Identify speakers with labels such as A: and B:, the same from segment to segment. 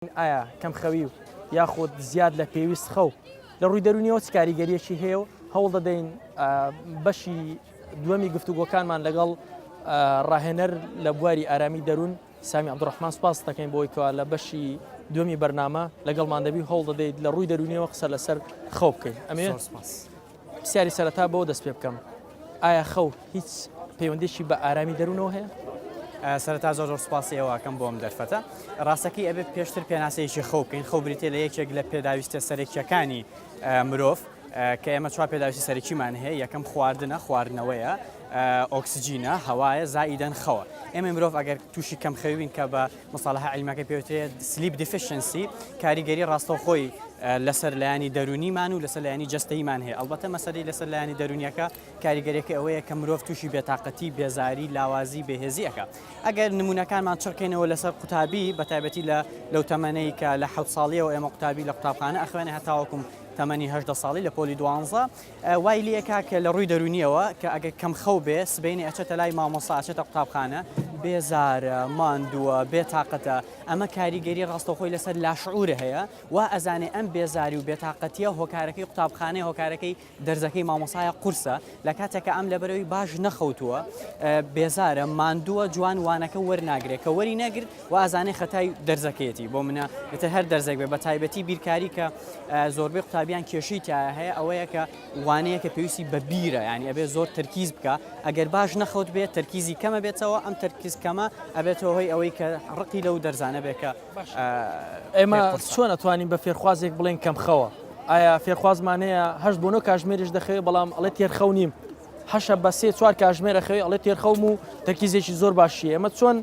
A: ئایا کەمخەوی و یاخود زیاد لە پێویست خەو لە ڕووی دەرونیەوە چ کاریگەریەکی هەیە و هەوڵ دەدەین بەشی دووەمی گفتوگۆکانمان لەگەڵ ڕاهێنەر لە بواری ئارامی دەروون سامی عبدڕحمان سپاس دەکەین بۆی کەوا لە بەشی دومی بەرنامە لەگەڵمان دەبی هەوڵ دەدەیت لە ڕووی دەرونیەوە قسە لەسەر خەو بکەین ئەمێ سپاس. پرسیاری سەرەتا بەوە دەست پێ بکەم ئایا خەو هیچ پەیوەندێکی بە ئارامی دەروونەوە هەیە؟ سەرتا زۆر
B: زۆر سپاسی ئەوەکەم بۆم دەرفەتە ڕاستەکەی ئەبێت پێشتر پێناسەیەکی خەو بکەین خەو بریتێ لە یەکێک لە پێداویستە سەرەکیەکانی مرۆڤ کە ئێمە چوار پێداویستی سەرەکیمان هەیە یەکەم خواردنە خواردنەوەیە ئۆکسسیجینە هەوایە زائیدەن خەوە ئێمە مرۆڤ ئەگەر تووشی کەم خەوی بن کە بە مصطلح عیلمیەکەی پێوترێت Sleep Deficiency کاریگەری ڕاستەوخۆی لەسەر لایەنی دەرونیمان و لەسەر لایەنی جەستەیمان هەیە ئەڵبەتە مەسەری لەسەر لایەنی دەرونیەکە کاریگەریەکە ئەوەیە کە مرۆڤ تووشی بێتاقەتی بێزاری لاوازی بەهێزیەکە ئەگەر نمونونەکانمان چڕکەینەوە لەسەر قوتابی بە تایبەتی لە لەو تەمەەی کە لە حەوت ساڵیەوە ئێمە قوتابی لە قوتابخانە ئەخوێنە هەتاوەکم تەمەنی هەشدە ساڵی لە پۆلی دوانزە وای لێ کاکە لە ڕووی دەروونیەوە کە ئەگەر کەم خەو بێ سبەینێ ئەچێتە لای مامۆستا ئەچێتە قوتابخانە بێزارە ماندووە بێتاقەتە ئەمە کاریگەری ڕاستەخۆی لەسەر لاشعورە هەیە وا ئەزانێ ئەم بێزاری و بێتاقەتیە هۆکارەکەی قوتابخانەی هۆکارەکەی دەرزەکەی مامۆسایە قورسە لە کاتێکە ئەم لەبەرەوەی باش نەخەوتووە بێزارە ماندووە جوان وانەکە وەرناگرێت کە وەری نەگرت وا ئەزانێ خەتای دەرزەکەیەتی بۆ منە ئیتر هەر دەرزێک بێ بە تایبەتی بیرکاری کە زۆربەی قوتابیان کێشەی تایە هەیە ئەوەیە کە وانەیە کە پێویستی بە بیرە ینی ئەبێ زۆر تەرکیز بکە ئەگەر باش نەخەوت بێت تەرکیزی کەمە بێتەوە ئەم تەرکیز کەمە ئەبێتەوە هۆی ئەوەی کە ڕقی لەو دەرزانە بێ کە ئێمە
A: چۆن ئەتوانین بە فێرخوازێک بڵێن کەم خەوە ئایا فێرخوازمانەیە هەشت بۆ نۆ کاژمێریش دەخەوێ بەڵام ئەڵێ تێرخەو نیم حەشە بە سێ چوار کاژمێر ئەخەوێ ئەڵێ تێرخەوم و تەرکیزێکی زۆر باشیە ئەمە چۆن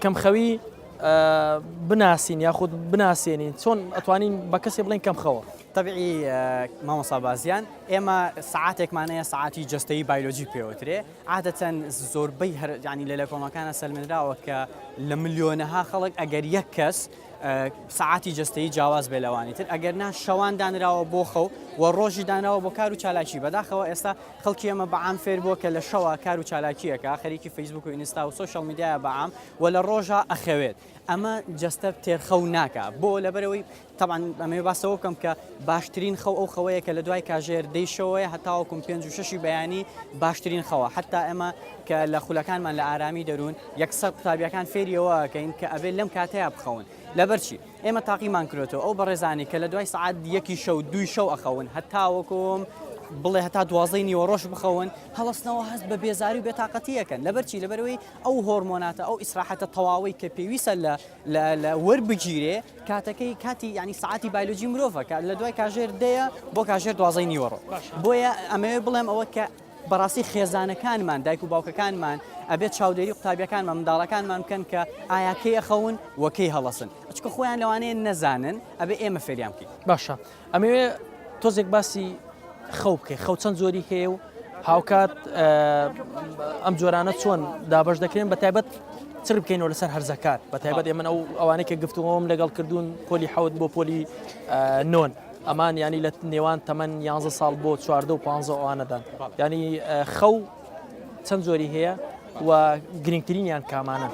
A: کەمخەوی بناسین یاخود بناسێنین چۆن ئەتوانین بە کەسێ بڵێن کەم خەوە تەبعی
B: مامۆسا بازیان ئێمە سعاتێکمانەیە سعاتی جستەی بایلۆجی پێوترێ عادەتەن زۆربەی هەرجانی لە لە کۆمەکانە سەلمێنراوە کە لە ملیۆنەها خەڵک ئەگەر یەک کەس سەعاتی جەستەیی جیاواز بێت لەوانی تر، ئەگەر نا شەوان دانراوە بۆ خەو و ڕۆژی دانراوە بۆ کار و چالاکی، بەداخەوە ئێستا خەڵکی ئێمە بە عام فێر بووە کە لە شەوا کار و چالاکی ئەکا، خەریکی فەیسبووک و ئینستا و سۆشیاڵ میدیایە بە عام و لە ڕۆژا ئەخەوێت، ئەمە جەستە تێرخەو ناکا، بۆ؟ لەبەرئەوەی تەبعەن ئەمەوێ باس لەوە بکەم کە باشترین خەو ئەو خەوەیە کە لە دوای کاژێر دەی شەوەیە هەتاوەکوم پێنج و شەشی بەیانی باشترین خەوە، حەتتا ئێمە. کە لە خولەکانمان لە ئارامی دەروون یەکسەر قوتابیەکان فێری ئەوە ئەکەین کە ئەبێت لەم کاتەیە بخەون لەبەرچی ئێمە تاقیمان کرێتەوە ئەو بەڕێزانانی کە لە دوای سعات یەکی شەو دوی شەو ئەخەون هەتاوەکۆم بڵێ هەتا دوازدەی نیوەڕۆژ بخەون هەڵستنەوە هەست بە بێزاری و بێتاقەتیەکەن لەبەرچی لەبەرەوەی ئەو هۆرمۆناتە ئەو ئیسراحەتە تەواوی کە پێویستە لە لە وەربگیرێ کاتەکەی کاتی ینی سعاتی بایلۆجی مرۆڤەکە لە دوای کاژێر دەیە بۆ کاژێر دوازەی نیوەڕۆ بۆیە ئەمەوێ بڵێم ئەوە کە بەڕاستی خێزانەکانمان دایک و باوکەکانمان ئەبێت چاودێری قوتابیەکانمان منداڵەکانمان بکەن کە ئایا کەی ئەخەون و کەی هەڵەسن ئەچکە خۆیان لەوانەیە نەزانن ئەبێ ئێمە فێریان بکەین باشە ئەمەوێ
A: تۆزێک باسی خەو بکەی خەو چەند زۆری هەیە و هاوکات ئەم جۆرانە چۆن دابش دەکرێن بە تایبەت چر بکەینەوە لەسەر هەرزەکار بە تایبەت ئێمە ئەو ئەوانەی کە گفتوەوەم لەگەڵ کردوون پۆلی حەوت بۆ پۆلی نۆن ئەمان یانی لە نێوان تەمەن یانزە ساڵ بۆ چواردە و پانزە ئەوانەدان ینی خەو چەند جۆری هەیە و گرنگترینیان کامانە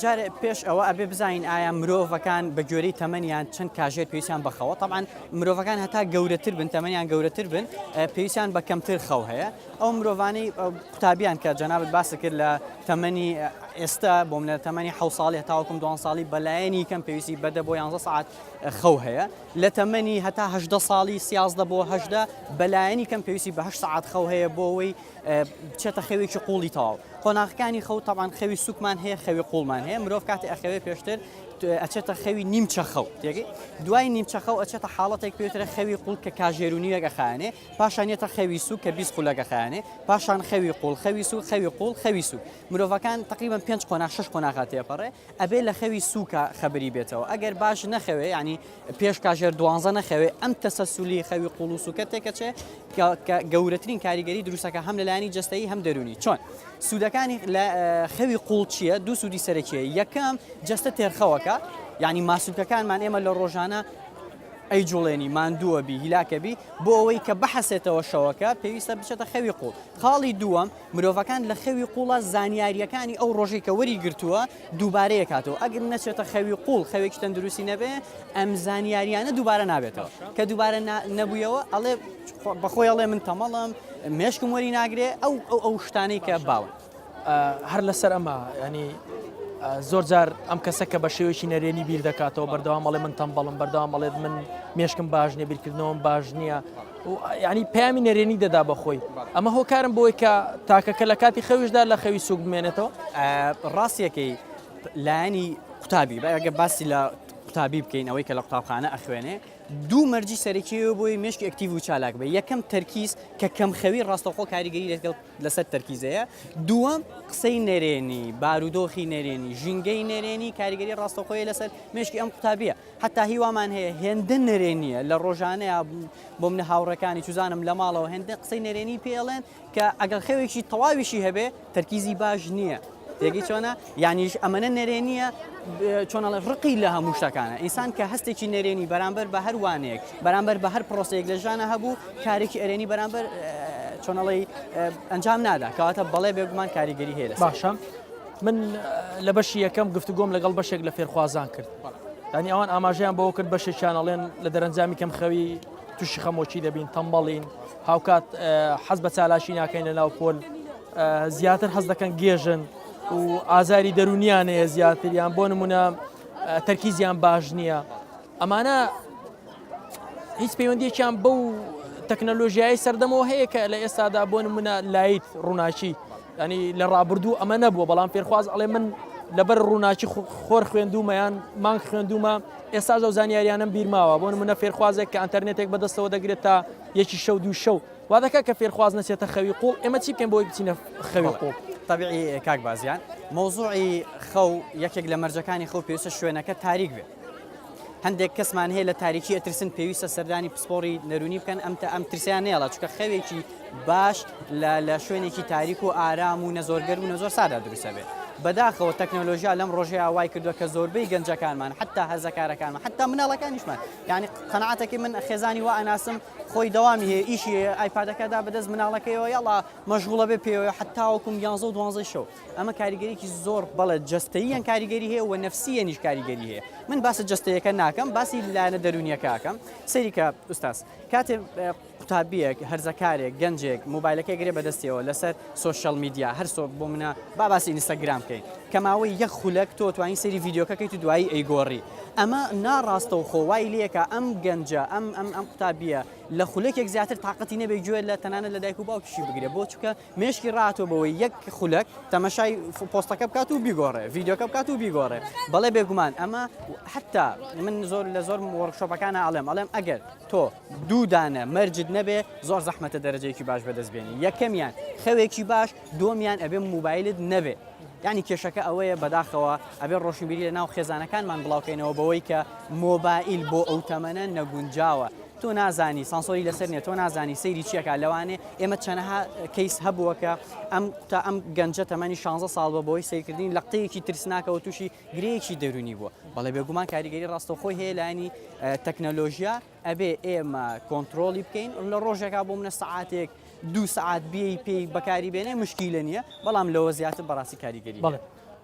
A: جار پێش
B: ئەوە ئەبێ بزانین ئایا مرۆڤەکان بە گوێری تەمەنیان چەند کاژێر پێویستیان بەخەوە تەمان مرۆڤەکان هەتا گەورەتر بن تەمەنیان گەورەتر بن پێویستیان بە کەمتر خەو هەیە ئەو مرۆڤانی قوتابیان کە جەنابەت باس کرد لە تەمەنی ئێستا بۆم لە تەمەنی حە ساڵی هەتاوکم دوان ساڵی بەلایەنی کەم پێویستی بەدە بۆ یانزە ساعت خەو هەیە لە تەمەنی هەتا هەژدە ساڵی، سیازدە بۆ هەژدە، بە لایەنی کەم پێویستی بە هەشت سەعات خەو هەیە بۆ ئەوەی بچێتە خەوێکی قووڵی تەواو. قۆناغەکانی خەو، تەبعەن خەوی سووکمان هەیە، خەوی قووڵمان هەیە. مرۆڤ کاتێ ئەخەوێ پێشتر ئەچێتە خەوی نیمچە خەو، تێگەی؟ دوای نیمچە خەو ئەچێتە حاڵەتێک پێ وترێ خەوی قووڵ کە کاژێر و نیوێک ئەخایەنێ، پاشان یەتە خەوی سووک کە بیست خولەک ئەخایەنێ، پاشان خەوی قووڵ، خەوی سووک، خەوی قووڵ، خەوی سووک. مرۆڤەکان تەقریبەن پێنج قۆناغ، شەش قۆناغ ئەتێپەڕێ. ئەبێ لە خەوی سوکا خەبری بێتەوە ئەگەر باش نەخەوێ یانی پێش کاژێر دوانزە نەخەوێ ئەم تەسەسولی خەوی قوڵ و سوکە تێکەچێ گەورەترین کاریگەری دروستەکە هەم لەلایانی جستەی هەم دەرونی چۆن سوودەکانی لە خەوی قوڵ چییە دوو سوودی سەرەکیە یەکەم جستە تێرخەوەکە ینی ماسوولکەکانمان ئێمە لە ڕۆژانە ئەی جوڵێنی ماندووە بی هیلاکەبی بۆ ئەوەی کە بحەسێتەوە شەوەکە پێویستە بچێتە خەوی قوڵ خاڵی دووەم مرۆڤەکان لە خەوی قوڵا زانیاریەکانی ئەو ڕۆژەی کە وەری گرتووە دووبارە یەکاتەوە ئەگەر نەچێتە خەوی قوڵ خەوێکی تەندروستی نەبێ ئەم زانیاریانە دووبارە نابێتەوە کە دووبارە نەبوویەوە ئەڵێ بەخۆی ئەڵێ من تەمەڵم مێشکم وەری ناگرێ ئەو ئەو ئەو شتانەی کە باون هەر
A: لەسەر ئەمە ینی زۆر جار ئەم کەسە کە بە شێوەیەکی نەرێنی بیر دەکاتەوە بەردەوامەڵێ من تەمبەڵم بەردەوامەڵێت من مێشکم باش نیە بیرکردنەوەم باش نییە یانی پەیامی نەرێنی دەدا بە خۆی ئەمە هۆکارم بۆی کە تاکەکە لە کاتی خەویشدا لە خەوی سوک بمێنێتەوە ڕاستیەکەی
B: لایەنی قوتابی بەگە باسی لە قوتابی بکەین ئەوەی کە لە قوتابخانە ئەخوێنێ دوو مەرجی سەرەکی بۆی مشک ئەکتیو و چالاک بێ یەکەم تەرکیز کە کەم خەوی ڕاستەخۆ کاریگەری لەگەڵ لەسەر تەرکیزەیە دووەم قسەی نەرێنی بارودۆخی نەرێنی ژینگەی نەرێنی کاریگەری ڕاستەخۆی لەسەر مشکی ئەم قوتابیە حەتا هی وامان هەیە هێندە نەرێنییە لە ڕۆژانەیە بۆ منە هاوڕەکانی چوزانم لە ماڵەوە هێندە قسەی نەرێنی پێڵێن کە ئەگەڵ خەوێکی تەواویشی هەبێ تەرکیزی باش نییە تێگەی چۆنە یانیش ئەمەە نەرێنیە چۆنەڵە ڕقی لە هەموو شتەکانە ئینسان کە هەستێکی نەرێنی بەرامبەر بە هەروانێک بەرامبەر بە هەر پرۆسەیەک لە ژانە هەبوو کارێکی ئەرێنی بەرامبەر چۆنەڵی ئەنجام نادا کەواتە بەڵێ بێگومان کاریگەری هەیە باشە من
A: لە بەشی یەکەم گفتوگۆم لەگەڵ بەشێک لە فێرخوازان کرد یانی ئەوان ئاماژەیان بەوە کرد بەشێکیان ئەڵێن لە دەرەنجامی کەمخەوی تووشی خەمۆکی دەبین تەمبەڵین هاوکات حەز بە چالاشی ناکەین لە ناو پۆل زیاتر حەز دەکەن گێژن و ئازاری دەرونیانەیە زیاتریان بۆ نمونە تەرکیزیان باش نییە ئەمانە هیچ پەیوەندیەکیان بەو تەکنەلۆژیایی سەردەمەوە هەیە کە لە ئێستادا بۆ نمونە لایت ڕووناچی یانی لە ڕابردوو ئەمە نەبووە بەڵام فێرخواز ئەڵێ من لەبەر ڕووناکی خۆر خوێندومە یان مانگ خوێندومە ئێستاش ئەو زانیاریانم بیرماوە بۆ نمونە فێرخوازێک کە ئەتەرنێتێک بەدەستەوە دەگرێت تا یەکی شەو دوو شەو وا دەکە کە فێرخواز نەچێتە خەوی قوڵ ئێمە چی بکەین بۆی بچینە خەوی قوڵ تەبیعی کاک
B: بازیان مەوزوعی خەو یەکێک لە مەرجەکانی خەو پێویستە شوێنەکە تاریک بێت هەندێک کەسمان هەیە لە تاریکی ئەترسن پێویستە سەردانی پسپۆڕی نەرونی بکەن ئەم تا ئەم ترسیان نێڵە چکە خەوێکی باش لە شوێنێکی تاریک و ئارام و نەزۆرگەر و نەزۆر سادا دروستە بێت بەداخەوە تەکنەلۆژیا لەم ڕۆژەیە وای کردووە کە زۆربەی گەنجەکانمان حتا هەرزەکارەکانمان حتا مناڵەکانیشمان یعنی قەنعاتەکەی من خێزانی وە ئەناسم خۆی دەوامی هەیە ئیشی ئایپادەکەدا بەدەست مناڵەکەیەوە یاڵا مەژغوڵە بێ پێوە حتاوەکم یانزە و دوانزەی شەو ئەمە کاریگەریی زۆر بەڵێ جەستەییان کاریگەری هەیە و نەفسیەنیش کاریگەری هەیە من باسە جەستەیەەکە ناکەم باسی لایەنە دەرونیەکەکەم سەریکە ئوستاس کاتێ قوتابیەک هەرزەکارێک گەنجێک موبایلەکە گرێ بەدەستیەوە لەسەر سوۆشل میدیا هەرسۆ بۆ منە با باسی ئینستاگرام بکەین کەماوەی یەک خولەک تۆ توانین سری یددیوکەکەیت و دوایی ئەیگۆڕی ئەمە ناڕاستە و خۆوای لەکە ئەم گەنجە ئەم ئەم ئەم قوتابیە لە خولەکێک زیاتر تااقەتی نەبێ گوێت لە تەنانە لە دایک و باوکیشی بگرێ بۆ چکە مێشکی ڕاهاتووە بەوەی یەک خولەک تەمەشای پۆستەکە بکات و بیگۆڕێ ڤیددیوکە بکات و بیگۆڕێ بەڵێ بێگومان ئەمە حتا من زۆر لە زۆر وەرشۆپەکان ئاڵێم ئەڵێم ئەگەر تۆ دوودانە مەرجت نەبێ زۆر زەحمەتە دەرەجەیەکی باش بەدەست بێنی یەکەمیان خەوێکی باش دۆمیان ئەبێ موبایلت نەبێ ینی کێشەکە ئەوەیە بەداخەوە ئەبێ ڕۆشنبیری لە ناو خێزانەکانمان بڵاوکەینەوە بەوەی کە مۆبایل بۆ ئەو تەمەە نەگونجاوە تۆ نازانی سانسۆری لەسەر نیە تۆ نازانی سەیری چی ئەکا لەوانێ ئێمە چەنەها کەیس هەبووە کە ئەم تا ئەم گەنجە تەمەنی 16 ساڵ بووە بۆی سەیرکردنی لەقتەیەکی ترسناکەوە تووشی گرێیەکی دەروونی بووە بەڵێ بێگومان کاریگەری ڕاستەوخۆی هەیە لانی تەکنەلۆژیا ئەبێ ئێمە کۆنتترۆلی بکەین لە ڕۆژێکا بۆ منە سعاتێک دوو سعات بێی پێی بەکاری بێنێ مشکیلە نییە بەڵام لەوە زیاتر بەڕاستی کاریگەری بڵێ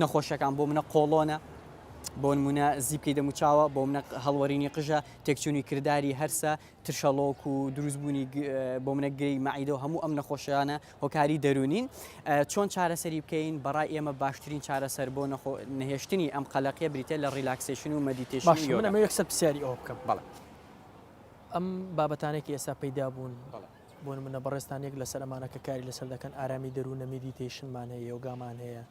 B: نەخۆشیەکان بۆ منە قۆڵۆنە بۆنمونە زیپکەی دەموچاوە بۆ منە هەڵوەرینی قژە تێکچوونی کردداری هەرسە ترشەڵۆک و دروستبوونی بۆ منە گرێی مەعیدە و هەموو ئەم نەخۆشیانە هۆکاری دەرونین چۆن چارەسەری بکەین بەڕای ئێمە باشترین چارەسەر بۆ نەخۆ نهێشتنی ئەم قەلەقیە بریتە لە ریلاکسیشن و مەدیتێشن یەکسەر پرسیاری
A: ئەو بکەم بەڵێ ئەم بابەتانێکی ئێستا پەیدا بوون بەڵێ بۆ نمونە بەڕێزتان یەک لەسەر ئەمانە کە کاری لەسەر دەکەن ئارامی دەروونە میدیتەیشنمان هەیە یۆگامان هەیە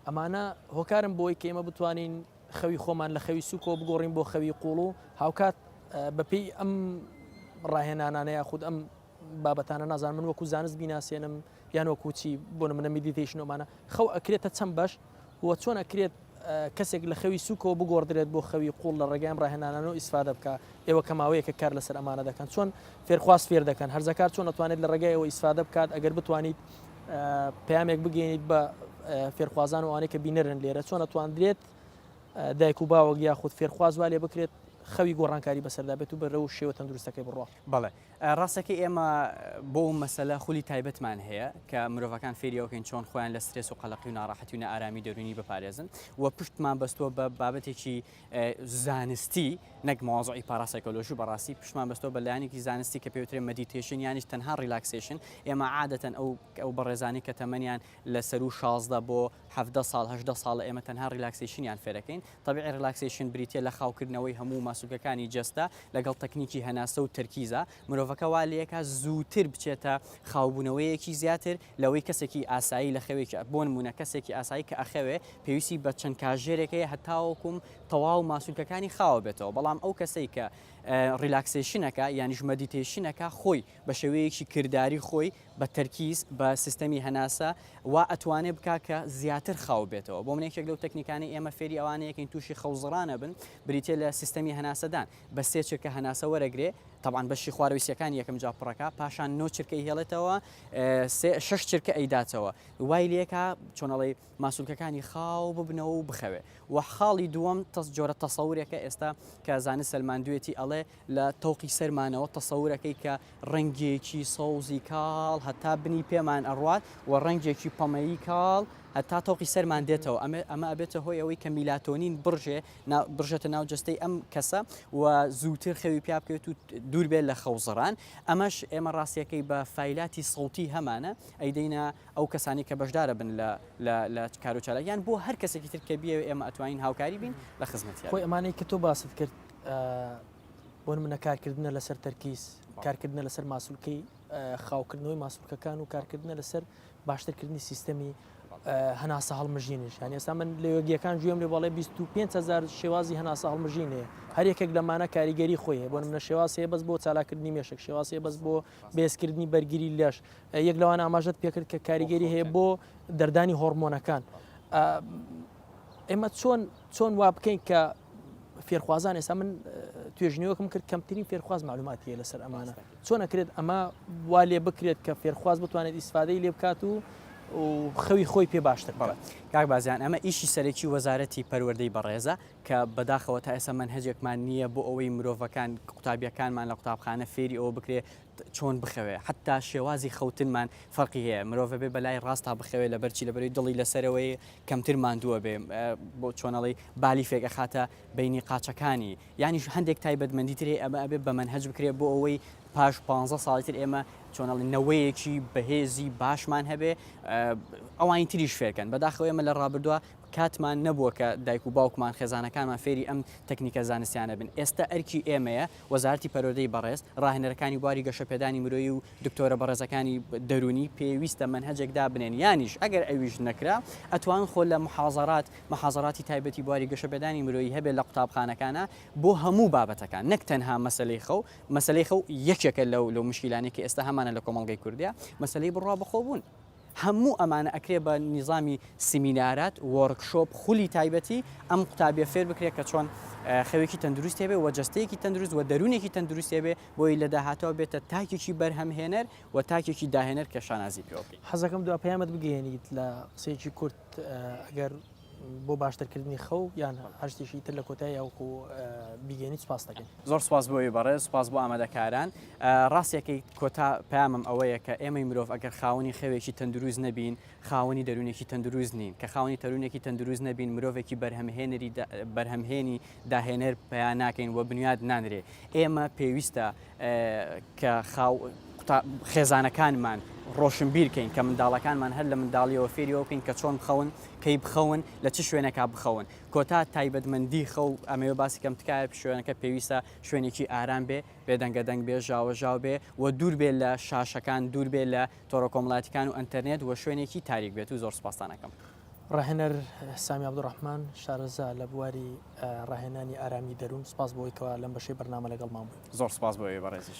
A: ئەمانە هۆکارن بۆی کە ئێمە بتوانین خەوی خۆمان لە خەوی سوکۆ بگۆڕین بۆ خەوی قوڵ و هاوکات بەپێی ئەم ڕاهێنانانەیە خود ئەم بابەتانە نازان من وەکو زانست بیناسیێنم یان وەکو چی بۆ نمونە میدیتەیشن ئەمانە خەو ئەکرێتە چەند بەش و چۆن ئەکرێت کەسێک لە خەوی سوکەوە بگۆڕدرێت بۆ خەوی قوڵ لە ڕێگەی ئەم ڕاهێنانەوە ئیسفادە بکە ئێوە کە ماوەیەکە کار لەسەر ئەمانە دەکەن چۆن فێرخواست فێر دەکەن هەرزەکار چۆن ئەتوانێت لە ڕێگای ئەوە ئیسفادە بکات ئەگەر بتوانیت پامێک بگەینیت بە فێرخوازان و ئەوانەی کە بینەرن لێرە چۆن ئەتواندرێت دایک و باوەک یاخود فێرخوازوا لێ بکرێت خەوی گۆڕانکاری بەسەردا بێت و بەرەو شێوە تەندروستەکەی بڕۆ بەڵێ
B: ڕاستەکەی ئێمە بۆ مەسەلە خولی تایبەتمان هەیە کە مرۆڤەکان فێریەوەکەین چۆن خۆیان لە سترێس و قەلقی و ناڕاحەتی و نارامی دەرونی بپارێزن و پشتمان بەستووە بە بابەتێکی زانستی نەک مۆزعی پاراسایکۆلۆژی و بەڕاستی پشمان بەستەوە بە لایەنێکی زانستی کە پێوترێ مەدیتێشن یانیش تەنها ریلاکسیشن ئێمە عادەتەن ئەو ئەو بەڕێزانی کە تەمەنیان لە سەر و 16 بۆ 17 ساڵ هەشدە ساڵ ئێمە تەنها ریلاکسیشنیان فێرەکەین طبیعی ڕیلاکسەیشن بریتییە لە خاوکردنەوەی هەموو ماسولکەکانی جەستە لەگەڵ تەکنیکی هەناسە و تەرکیزە، مرۆڤەکە وا لەیەکا زووتر بچێتە خاوبوونەوەیەکی زیاتر لەوەی کەسێکی ئاسایی لە خەوێکی بۆ نموونە کەسێکی ئاسایی کە ئەخەوێ پێویستی بە چەند کاژێرێک هەیە هەتاوەکو تەواو ماسولکەکانی خاوە بێتەوە بەڵام ئەو کەسەی کە ڕیلاکسەیشنەکە یانیش مەدیتەیشنەکە خۆی بە شێوەیەکی کرداری خۆی بە تەرکیز بە سیستەمی هەناسە وا ئەتوانێ بکا کە زیاتر خاو بێتەوە بۆ من یەکێک لەو تەکنیکانەی ئێمە فێری ئەوانەیەکەین تووشی خەوزڕانە بن بریتە لە سیستەمی هەناسەدان بە سێ چرکە هەناسە وەرەگرێ تەبان بەشی خوارویسیەکان یەکەم جا پڕەکە پاشان نۆ چرکەی هێڵێتەوە شش چرکە ئەیداتەوە وای لەکە چۆنەڵی ماسولکەکانی خاو ببنەوە و بخەوێ وە خاڵی دووەم تەس جۆرە تەسەورێکە ئێستا کە زانست سەلماندوێتی ئەڵێ لە تەوقی سەرمانەوە تەسەورەکەی کە ڕەنگێکی سەوزی کاڵ هەتا بنی پێمان ئەڕوات و ڕەنگێکی پەمەیی کاڵ هەتا تەوقی سەرمان دێتەوە ئەمە ئەمە ئەبێتە هۆی ئەوەی کە میلاتۆنین بڕژێ بڕژێتە ناو جەستەی ئەم کەسە و زووتر خەوی پیا بکەوێت و دوور بێت لە خەوزڕان ئەمەش ئێمە ڕاستیەکەی بە فیلاتی سەوتی هەمانە ئەیدەینە ئەو کەسانی کە بەشدارە بن لە لە کارو چالاکیان بۆ هەر کەسێکی تر کە بیەوێ ئێمە ئەتوانین هاوکاری بین لە خزمەتی خۆی ئەمانەی کە تۆ باست
A: کرد بۆ نمونە کارکردنە لەسەر تەرکیز کارکردنە لەسەر ماسولکەی خاوکردنەوەی ماسولکەکان و کارکردنە لەسەر باشترکردنی سیستەمی هەناسە هەڵمژینیش هەن ئێستا من لە یۆگیەکان گوێم لێ بەڵێ 25هزار شێوازی هەناسە هەڵمژینێ هەر یەکێک لەمانە کاریگەری خۆیە بۆ منە شێواسەیە بەس بۆ چالاکردنی مێشک شێواسەیە بەس بۆ بێزکردنی بەرگری لەش یەک لەوان ئاماژەت پێکرد کە کاریگەری هەیە بۆ دەردانی هۆرمۆنەکان ئێمە چۆن چۆن وا بکەین کە فێرخوازان ئێستا من توێژنیوەکم کرد کەمترین فێرخواز معلوماتیە لەسەر ئەمانە چۆن نەکرێت ئەمە وا لێ بکرێت کە فێرخواز بتوانێت ئیسفادەی لێ بکات و خەوی خۆی پێ باشتر بڵێت کاک بازیان ئەمە
B: ئیشی سەرەکی وەزارەتی پەروەردەی بەڕێزە کە بەداخەوە تا ئێستا من هەجێکمان نییە بۆ ئەوەی مرۆڤەکان قوتابیەکانمان لە قوتابخانە فێری ئەوە بکرێ چۆن بخەوێ حتا شێوازی خەوتنمان فەرقی هەیە مرۆڤ بێ بەلای ڕاستە بخەوێ لە بەرچی لەبەری دڵی لەسەرەوەی کەمتر ماندووە بێ بۆ چۆنەڵی بالیفێک ئەخاتە بینی قاچەکانی یانیش هەندێک تایبەتمەندی تری ئەمە ئەبێ بە من هەج بکرێت بۆ ئەوەی پاش 15 ساڵی تر ئێمە چۆنەڵی نەوەیەکی بەهێزی باشمان هەبێ ئەوانی تریش فێرکەن بەداخەوە ئێمە لە ڕابردووە کاتمان نەبووە کە دایک و باوکمان خێزانەکانمان فێری ئەم تەکنیکە زانستیانە بن ئێستا ئەرکی ئێمەیە وەزارەتی پەروەردەی بەڕێز، ڕاهێنەرەکانی بواری گەشەپێدانی مرۆیی و دکتۆرە بەڕێزەکانی دەروونی پێویستە مەنهەجێک دابنێن یانیش ئەگەر ئەویش نەکرا ئەتوان خۆ لە محازەرات محازەراتی تایبەتی بواری گەشەپێدانی مرۆیی هەبێت لە قوتابخانەکانا بۆ هەموو بابەتەکان نەک تەنها مەسەلەی خەو مەسەلەی خەو یەکێکە لەو لەو مشکیلانەی کە ئێستا هەمانە لە کۆمەڵگەی کوردیا مەسەلەی بڕوا بەخۆبوون هەموو ئەمانە ئەکرێ بە نیزامی سیمینارات وۆرک شۆپ خولی تایبەتی ئەم قوتابیە فێر بکرێت کە چۆن خەوێکی تەندروست هێبێ و جستەیەکی تەندروست و دەروونێکی تەندروست هێبێ بۆی لە داهاتەوە بێتە تاکێکی بەرهەمهێنەر و تاکێکی داهێنەر کە شانازی
A: پێوە بکەین.
B: حەزەکەم
A: دوا پەیامت
B: بگەیەنیت
A: لە قسەیەکی
B: کورت ئەگەر
A: بۆ باشترکردنی خەو یان هەر شتێکی تر لە کۆتای یاوکو بیگەنی سپاس دەکەین زۆر سپاس بۆی بەڕێ
B: سپاس بۆ ئامادەکاران ڕاستیەکەی کۆتا پامم ئەوەیە کە ئێمەی مرۆڤ ئەگەر خاوەنی خەوێکی تەندروست نەبین خاوەنی دەروونێکی تەندروست نین کە خاوەنی تەرونێکی تەندروست نەبین مرۆڤێکی بەرهەمهێنری بەرهەمهێنی داهێنەر پیا ناکەین و بنیاد نانرێ ئێمە پێویستە کە خاو قوتا خێزانەکانمان ڕۆشنبیر کەین کە منداڵەکانمان هەر لە منداڵیەوە فێری ئەوە بکەین کە چۆن بخەون کەی بخەون لە چ شوێنێکا بخەون کۆتا تایبەتمەندی خەو ئەمەوێ باسی کەم تکایە شوێنەکە پێویستە شوێنێکی ئارام بێ بێدەنگە دەنگ بێ ژاوە ژاو بێ و دوور بێ لە شاشەکان دوور بێ لە تۆڕە کۆمەڵاتیکان و ئەتەرنێت و شوێنێکی تاریک بێت و زۆر سپاسانەکەم. ڕاهێنەر
A: سامی عبدڕحمان شارەزا لە بواری ڕاهێنانی ئارامی دەروون سپاس بۆیکەوە
B: لەم
A: بەشەی بەرنامە لەگەڵمان
B: بووی
A: زۆر سپاس بۆ
B: بەڕێزیش.